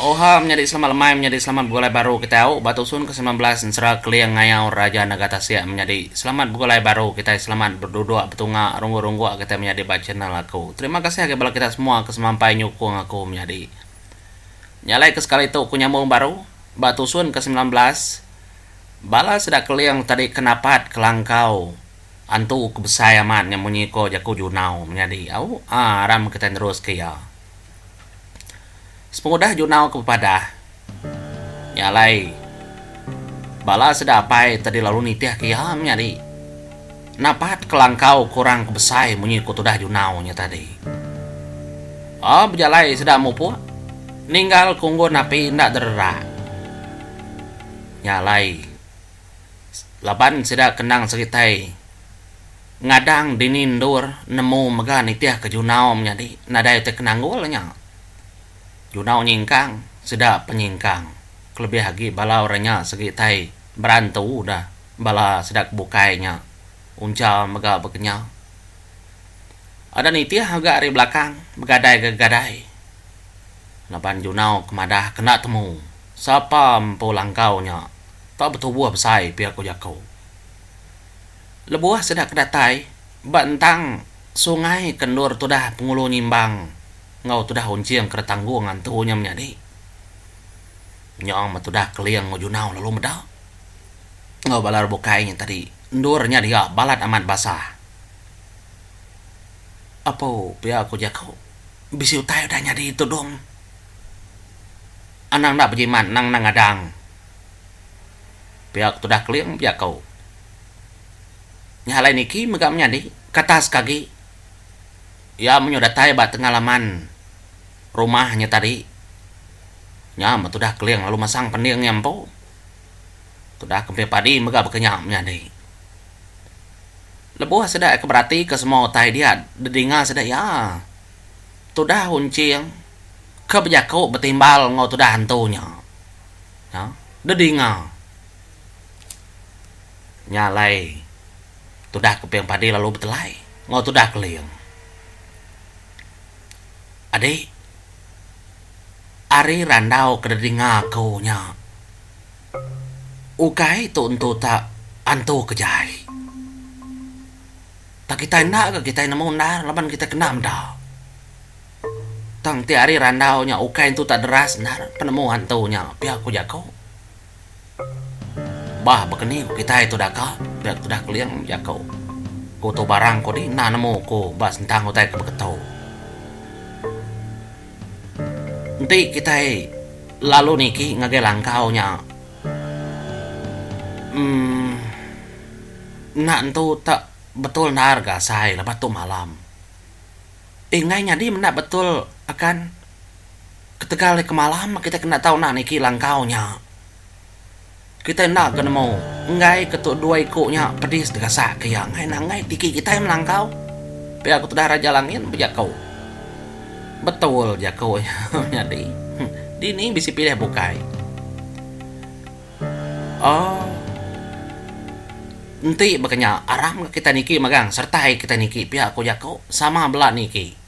Oha menyadi selamat lemai menyadi selamat begulai baru kitai au ba tusun ke semilan belas ensera keling ngayau Raja Naga Tasik menyadi selamat begulai baru kitai selamat berduduk betunga rungguk-rungguk kitai menyadi ba channel aku terima kasih agi bala kita semua ke semampai nyukung aku menyadi nyalai ke sekali tu ku nyambung baru ba tusun ke semilan belas bala sida keling tadi ke napat ke langkau antu ke besai amat nya munyi ko jaku junau menyadi au aram kitai nerus ke iya. Sepengudah Junau ke bepadah, nya alai bala sida apai tadi lalu nitih ke iya menyadi napat kelangkau ke orang ke besai munyi ku tudah Junau nya tadi. Ba bejalai sida mupuk ninggal ke unggun api enda dererak. Nya alai laban sida ke endang seritai ngadang dini endur nemu mega nitih ke Junau menyadi nadai ti ke nanggul nya. Junau nyingkang sida penyingkang kelebih agi bala orang nya segi tai berantu dah bala sida ke bukai nya uncha mega bekenyau. Ada nitih mega ari belakang begadai ga gadai laban junau ke madah ke enda temu sapa empu langkau nya tau betubuh besai pia ku jaku. Lebuh sida ke datai ba entang sungai ke endur tudah Pengulu Nyimbang enggau tudah Unching ke Retanggong antu nya menyadi nyong me tudah Keling enggau Junau lalu meda enggau bala re bukai nya tadi endur nya dia balat amat basah. Apu pia ku jaku bisi utai udah nyadi tudung anang enda bejimat anang enda ngadang pia ke tudah Keling jaku. Nya alai niki mega menyadi katas ke agi iya menyuh datai ba tengah laman rumah nya tadi. Nya meh tudah keling lalu masang pending iya empu. Tudah kempin padi mega baka nya menyadi. Lebuh sida iya ke beratika semua utai dia dedinga sida iya tudah unching ke bejaku betimbal enggau tudah antu nya. Nya dedinga. Nya alai tudah kuping padi lalu betelai enggau tudah keling. Adi ari randau ke deh dinga ku nya ukai tu entu ta antu ke jai. Pak kitai enda ke kitai nemu endar laban kitai kena meda. Tang ti ari randau nya ukai entu ta deras endar penemu antu nya pia ku jaku. Bah bekeni ku kitai tu daka pia tudah keling jaku ku tu barang ko di enda nemu ku ba sentang utai ke beketo. Enti kitai lalu niki ngagai langkau nya um enda entu tak betul naar ga asai lepa tu malam. Ingai nyadi menda betul akan Ketegal eka malam kitai kena tau nah niki langkau nya. Kitai enda ke nemu enggai ke tu dua iku nya pedis digasak ke iya ngena enggai tiki kitai melangkau. Pia ku tudah Raja Langit bejaku. Betul jaku iya nyadi. Dini bisi pilih bukai. Aaa enti baka nya aram kitai niki megang sertai kitai niki pia ku jaku sama bela niki.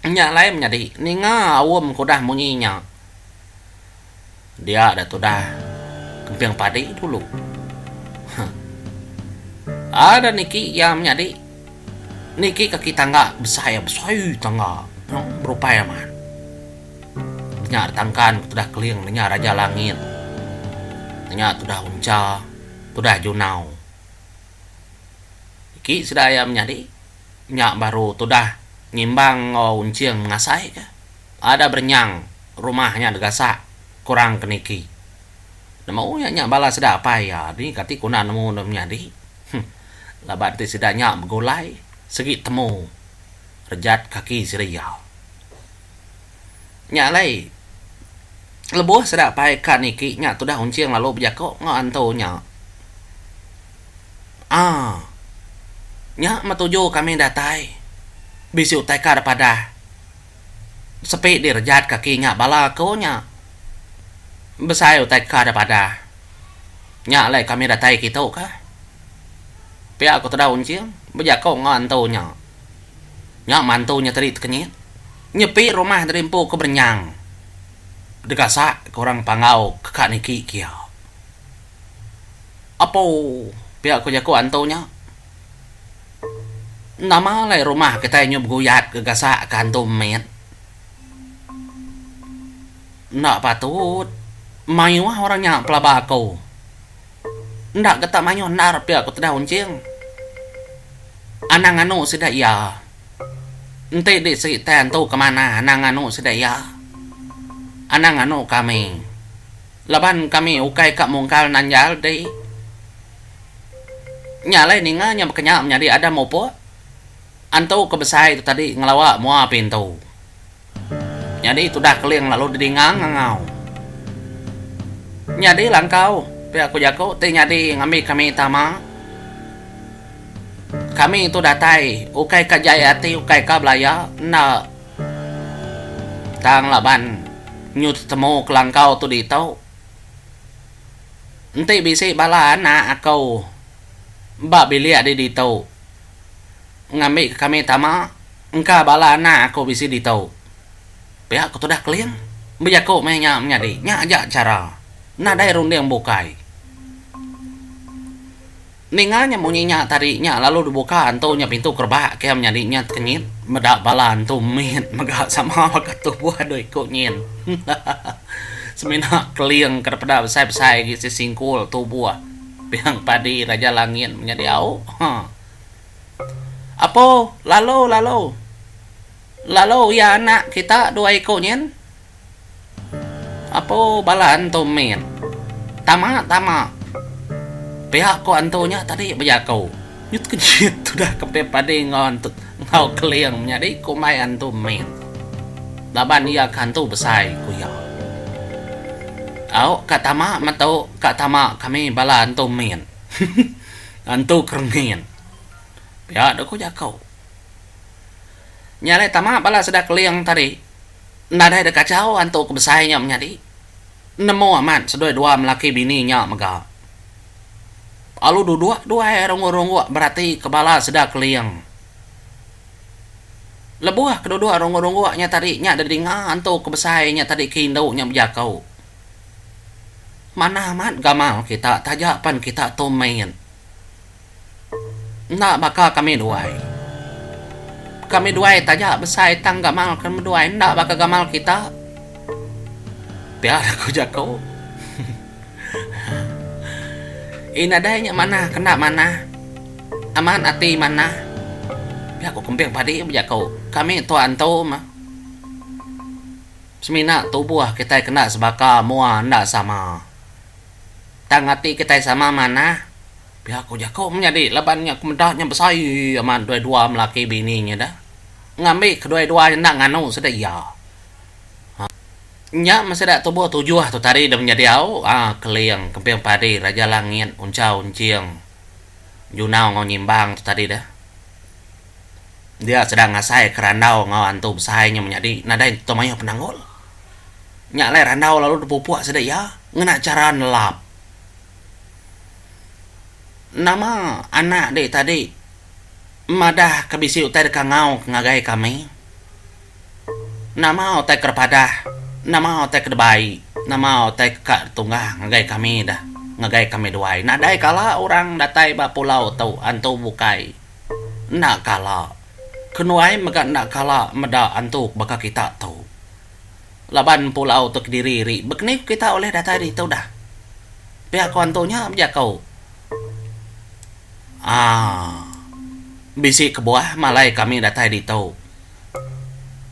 Nya alai menyadi ninga aum ke udah munyi nya. Dia da tudah kemping padi dulu. Huh. Ada niki iya menyadi niki kaki tangga besai iya besai tangga no berupai amat. Nya tangkan tudah keling nya raja langit. Nya tudah uncha tudah junau. Eki sida iya menyadi nya baru tudah ngimbang enggau Unching mengasai ka. Ada berenyang rumah nya degasak kurang ke niki. Nemu iya nya bala sida apai iya dini kati kena nemu deh menyadi. Huh laban ti sida nya begulai segi temu rejat kaki sida iya. Nya alai lebuh sida pai kad niki nya tudah unching lalu bejako enggau antu nya. Aa. Nya meh tuju kami datai. Bisi utai kad padah. Sepi direjat kaki nya bala ko nya. Besai utai kad padah. Nya alai kami datai kitu kah. Pia ko tudah unching bejako enggau antu nya. Nya mantu nya tadi tekenyit. Nyepi rumah tadi empu ke berenyang degasak ke orang Panggau keka niki kia. Apo pia ko jako antu nya. Nama alai rumah kitai nyu beguyat gegasak ke antu mit. Enda patut mayuh orang nya pelaba ko. Enda getak mayuh endar pia ku Tedah Unching. Anang nganu sida iya. Enti di seri tan tu ke manah anang nganu sida iya. Anang nganu kami. Laban kami ukai ka mungkal nanjal di. Nya alai ninga nya bekenya menyadi Adam Opok. Antu ke besai tu tadi ngelawa mua pintu. Nyadi tudah Keling lalu dedingang ngangau. Nyadi langkau, pia ku jaku ti nyadi ngambi kami tama. Kami tu datai ukai ka jai ati ukai ka belaya enda tang laban nyu tetemu kelangkau tu ditu. Enti bisi bala anak aku ba bilik di ditu ngambi ka kami tama. Engka bala anak aku bisi ditu. Pia ku tudah Keling bejaku meh nya menyadi nya aja chara nadai runding bukai. Ninga nya munyi nya tadi nya lalu dibuka antu nya pintu kerebak ke menyadi nya tekenyit meda bala antu mit mega sama baka tubuh doi ku nyin. Semina Keling kada peda besai-besai agi sesingkul tubuh pia padi Raja Langit menyadi au. Apo, lalu, lalu. Lalu iya anak kita dua iku nyin. Apo, bala antu mit. Tama, tama. Pia ko antu nya tadi bejaku. Nyut kenyit tudah kepit padi enggau keling menyadi kumbai antu mit. Laban iya ke antu besai, ku iya. Au, ka tama metu, ka tama kami bala antu mit. Entu keremin. Pia dok ku jako. Nya alai tama bala sida Keling tadi nadai dek kachau antu ke besai nya menyadi. Nemu amat sedoi dua melaki bini nya mega. Alu dudok duai rongok-rongok berati ke bala sida Keling. Leboh ke dudok rongok-rongok nya tadi nya didinga antu ke besai nya tadi ke indu nya bejako. Manah amat gamal kita taja pan kita tu main. Enda baka kami duai. Kami duai taja besai tang gamal kami duai enda baka gamal kita. Pia lah ku jaku. Ih nadai nya manah kena manah. Amat ati manah. Pia ku Kemping Padi bejaku. Kami tua entu mah. Semina tubuh kitai kena sebaka mua enda sama. Tang ati kitai sama manah. Pia ku jaku menyadi laban nya ku meda nya besai amat dua-dua melaki bini nya da. Ngambi kedua-dua nya enda nganu sida iya. Hah. Nya meh sida tubuh tujuh tu tadi da menyadi au ah Keling, Kemping Padi, Raja Langit, Unchau, Enching, Junau enggau Nyimbang tu tadi da. dia sedang ngasai ke randau enggau antu besai nya menyadi nadai entu mayuh penanggul nya alai randau lalu depupuk sida iya ngena chara nelap nama anak dek tadi madah ke bisi utai deka ngau ke ngagai kami nama utai ke depadah nama utai ke debai nama utai ka tunggah ngagai kami dah ngagai kami duai nadai kala orang datai ba pulau tu antu bukai. Enda kala. Kenuai mega enda kala meda antu baka kita tu. Laban Empu Lau tu kediri ri bekeni ku kita ulih datai ditu dah. Pia ku antu nya bejaku. Aaa. Bisi kebuah malai kami datai ditu.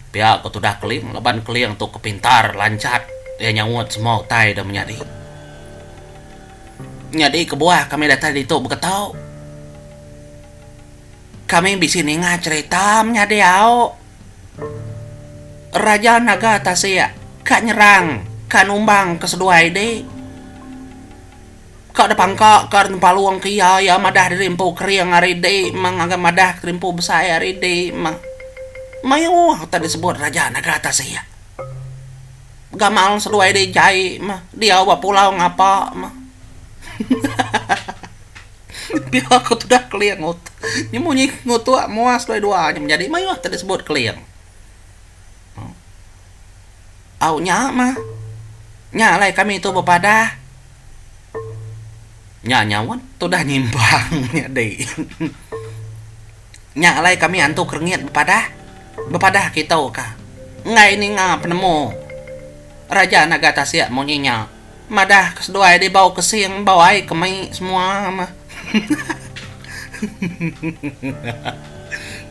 Pia ku tudah Keling laban Keling tu ke pintar lanchat iya nyaut semua utai da menyadi. Nyadi kebuah kami datai ditu baka tau. Kami bisi ninga cherita menyadi au Raja Naga Tasik ka nyerang ka numbang ke seduai di ka depangka ka Rempalung ke iya iya madah diri empu kering ari di meng ngagai madah diri empu besai ari di meng mayuh utai disebut Raja Naga Tasik. Gamal seduai di jai meh diau ba pulau ngapa meh. Pia ku tudah keling utuk. Nya munyi ngutuk mua seduai dua nya menjadi mayuh tau disebut keling. Au nya mah. Nya alai kami tu bepadah. Nya nyaut tudah nyimpang nyadi. Nya alai kami antu kerengit bepadah. Bepadah kitu ka. Enggai ninga penemu. Raja naga tasik munyi nya. Madah ke seduai deh bau kesing bau ai ke mai semua meh.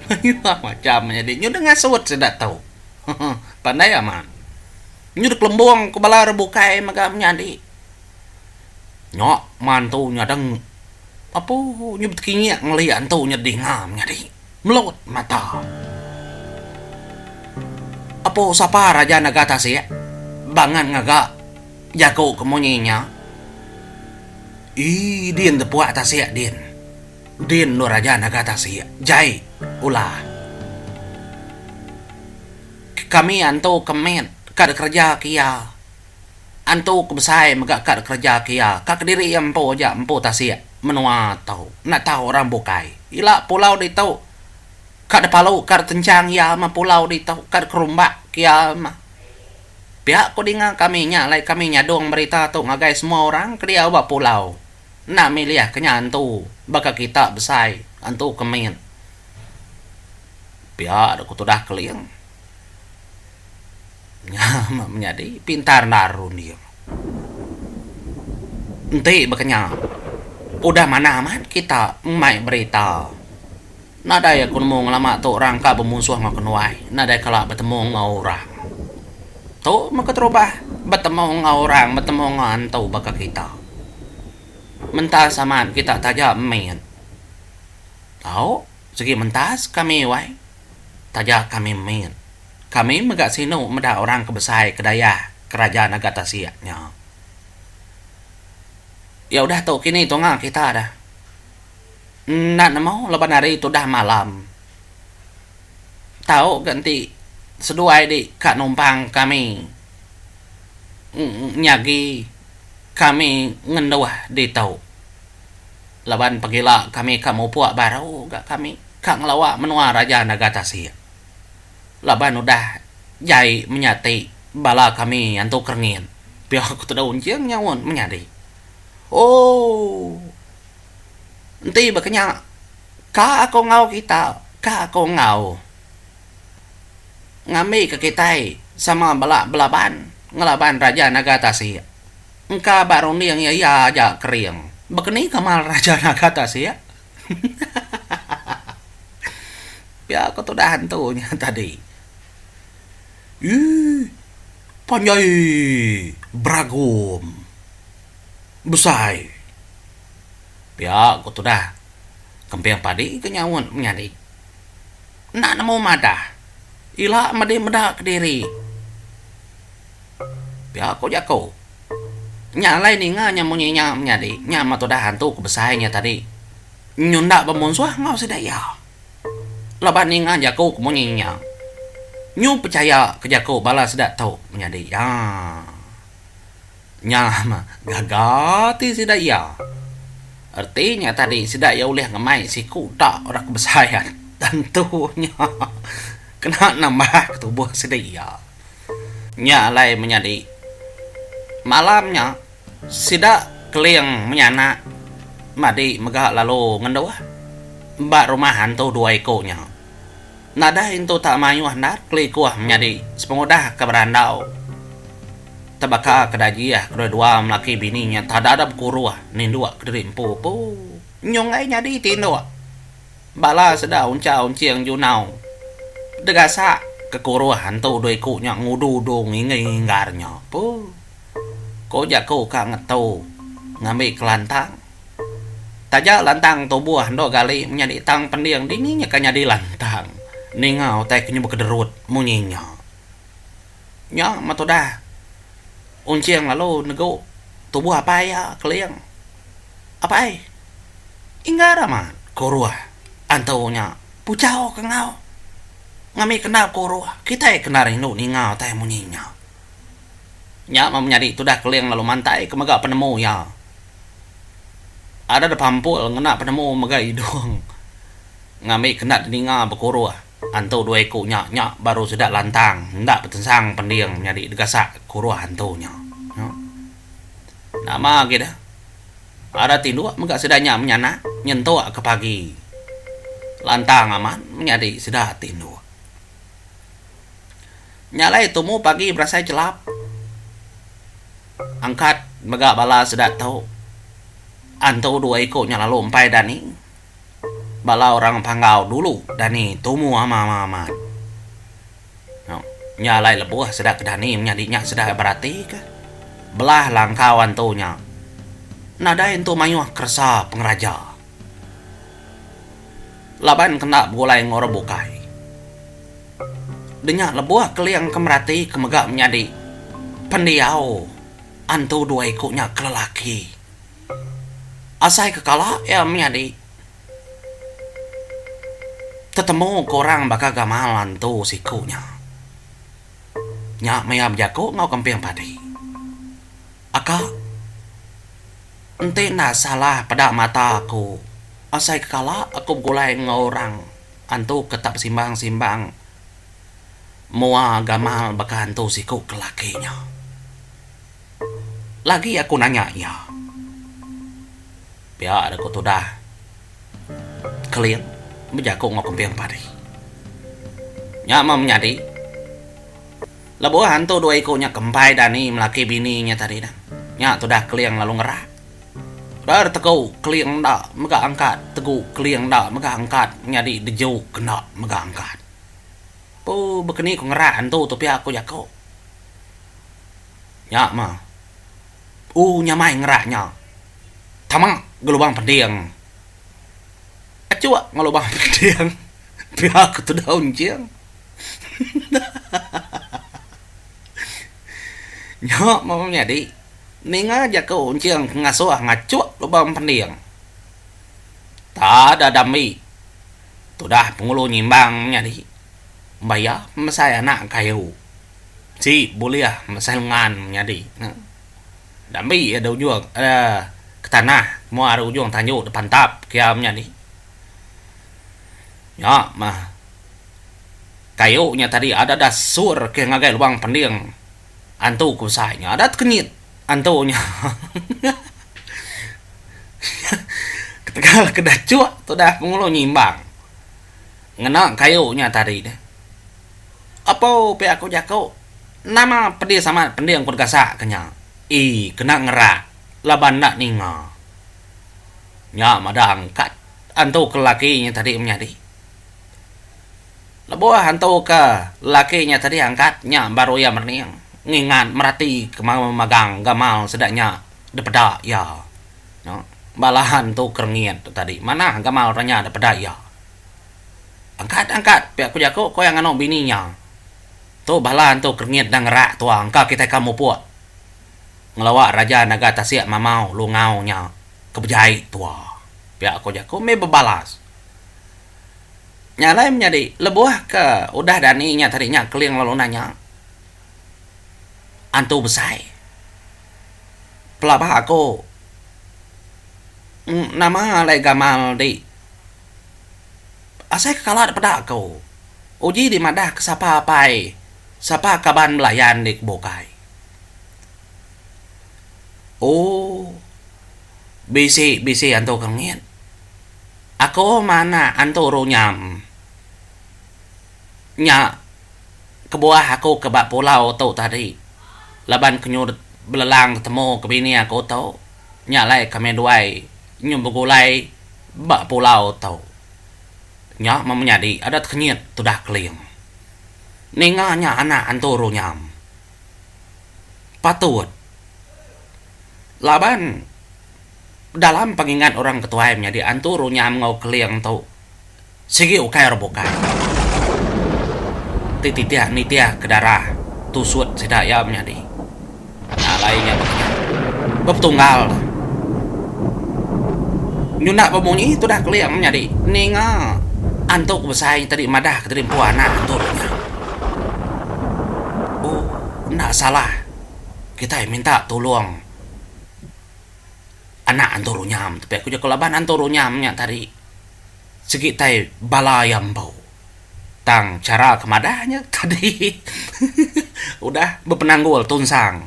Mayuh macham nyadi nyu deh ngasut sida tu. Pandai amat. Nyu deh kelembong ke bala orang bukai mega menyadi. Nya mantu nyadeng apu nyu betekinyek ngelia entu nyadi dinga menyadi. Melaut mata. Apo sapa raja nega tasik bangan ngaga jaku ke munyi nya. Ii din tepuak tasik din. Din lu raja naga tasik. Jai ulah. Kami antu ke met ka dikereja ke iya. Antu ke besai mega kad kereja ke iya ka kediri iya empu aja empu tasik menua tu enda tau orang bukai ila pulau ditu ka depalu kad kencang iya mah pulau ditu kad kerumbak ke iya mah pia ku dinga kami nya alai kami nyadung berita tu ngagai semua orang ke diau ba pulau enda milih ke nya antu baka kita besai antu ke min pia ku tudah keling. Nya meh menyadi pintar narun iya. Enti baka nya, udah manah amat kita mai berita. Nadai aku nemu ngelama tu orang ka bemunsuh enggau kenuai, nadai kala betemu enggau orang. Tu meh keterubah, betemu enggau orang, betemu enggau antu baka kita. Mentas amat kita taja min. Tau? Sigi mentas kami wai. Taja kami min. Kami mega sinu meda orang ke besai ke dayah kerajan agat tasik nya. Ya udah tu kini tunga kita dah. Enda nemu laban hari tu dah malam. Tau ga enti seduai di ka numpang kami nyagi kami ngenduh ditu. laban pegila kami ka mupuk baru ga kami ka ngelawa menua raja naga tasik laban udah jai menya ti bala kami antu kerengin pia ku tedau enching nyaut menyadi ooh enti ba kenya ka ko enggau kita ka ko enggau ngambi ka kitai sama bala belaban ngelaban raja naga tasik. Engka ba runding iya iya aja kering. Bekeni kemal raja naga tasik. Pia ko tudah hantu nya tadi. Ih. Panjai beragom. Besai. Pia ko tudah kemping padi ke nyaut menyadi. Enda nemu madah. Ila medi meda kediri. Pia ku jaku. Nya alai ninga nya munyi nya menyadi nya meh tudah antu ke besai nya tadi nyunda bemunsuh enggau sida iya. Laban ninga jaku ke munyi nya, nyu pechaya ke jaku bala sida tu menyadi iya. Nya mah gaga ti sida iya. Reti nya tadi sida iya ulih ngemai siku da rak besain. Tentu nya kena nambahka tubuh sida iya. Nya alai menyadi malam nya sida Keling menyanak madi mega lalu ngenduh ba rumah antu dua iku nya. Nadai intu tak mayuh endar kelikuh menyadi sepengudah ke berandau te baka ke dajih kedua dua melaki bini nya tak ada ada bekuruh ninduk kediri empu empu nyung ai nyadi tinduk bala sida uncha unching junau degasak ke kuruh entu dua iku nya ngudu udu nginggi nginggar nya puh ko jaku ka ngetu ngambi kelantang. Taja lantang tubuh endur gali menyadi tang pending dini nya ka nyadi lantang ninga utai ke nyuba kederut munyi nya. Nya meh tudah Unching lalu negu tubuh apai iya Keling. Apai, inggar amat ke uruh antu nya puchau ke enggau ngambika endar ke uruh kitai kena rindu ninga utai munyi nya. Nya meh menyadi tudah Keling lalu mantai ke mega penemu iya. Ada da pampul ngena penemu mega idung ngambi kenda teninga bekuruh antu dua iku nya nya baru sida lantang enda betensang pending nyadi degasak kuruh antu nya. Nama agi da ada tinduk mega sida nya menyanak nyentuk ke pagi lantang amat menyadi sida tinduk. Nya alai tumu pagi berasai chelap. Angkat mega bala sida tu antu dua iko nya lalu empai dani bala orang panggau dulu dani tumu ama ama amat nya alai lebuh sida ke dani menyadi nya sida berati ka belah langkau antu nya nadai entu mayuh keresa pengeraja. Laban kena begulai enggau orang bukai. Denya lebuh Keling ke merati ke mega menyadi pendiau antu dua iku nya ke lelaki. Asai ke kala iya menyadi tetemu ke orang baka gamal antu siku nya. Nya maya bejaku enggau kemping padi. Aka. Enti enda salah peda mata aku, asai ke kala aku begulai enggau orang antu ke tak besimbang-simbang mua gamal baka antu siku ke laki nya. Lagi aku nanya iya. Pia deh ku tudah Kelin bejaku enggau kemping padi. Nya meh menyadi. Lebuh antu dua iku nya kempai dani melaki bini nya tadi nah, nya tudah Keling lalu ngerak. Ber tegu Keling enda mega angkat tegu Keling enda mega angkat nyadi deju kenda mega angkat. Pu bekeni ku ngerak antu tu pia ku jaku. Nya mah. U nyamai ngerak nya. Tama gelubang pending. Achuk ngelubang pending pia ku tudah Unjing. Nya meh menyadi ninga jaku enching ke ngasuh ngachuk lubang pending. Tada dambi tudah pengulu nyimbang menyadi mbai iya mesai anak kayu ti bulih mesai lengan menyadi ne. Dambi iya da ujung ke tanah mua ari ujung tanju da pantap ke iya menyadi. Nya mah kayu nya tadi ada da sur ke ngagai luang pending antu ku besai nya ada tekenyit antu nya ketegal ke da cuk tudah pengulu nyimbang ngena kayu nya tadi deh apo pia ku jaku nama pedis amat pending ku gasak ke nya ii kena ngerak laban enda ninga nya meda angkat. Antu ke laki nya tadi menyadi. Lebuh antu ke laki nya tadi angkat nya baru iya merening ngingat merati ke mauh magang gamal sida nya dipeda iya. Noh bala antu ke rengit tu tadi manah gamal orang nya dipeda iya. Angkat angkat pia ku jaku ku iya nganu bini iya. Tu bala antu ke rengit dang ngerak tuah engka kitai ka mupuk. ngelawa Raja Naga Tasik Mamau Lungau nya ke bejai tua. Pia ko jaku meh bebalas. Nya alai menyadi lebuh ke udah dani nya tadi nya Keling lalu nanya Antu Besai, Pelaba aku nama alai gamal di asai ke kala da peda ku uji dimadahka sapa apai sapa kaban belayan di kebukai. Oh bisi bisi antu kengit aku manak antu runyam nya kebuah aku ke ba pulau tu tadi laban ke nyudah belelang betemu ke bini aku tu nya alai ke meh duai nyu begulai ba pulau tu nya meh menyadi adat kengit tudah keling ninga nya anak antu runyam. patut laban dalam pengingat orang ke tuai menyadi antu runyam enggau keling tu sigi ukai ora bukai ti titih nitih ke darah tusut sida iya menyadi alai nya bepetunggal tu nyunak ba munyi tudah keling menyadi ninga antu ke besai tadi madah ke rimpu anak antu runyam Bu enda salah kitai minta tulong anak antu runyam tapi aku jeko laban antu runyam nya tadi sigi tai bala iya embau tang chara ke madah nya tadi udah bepenanggul tunsang.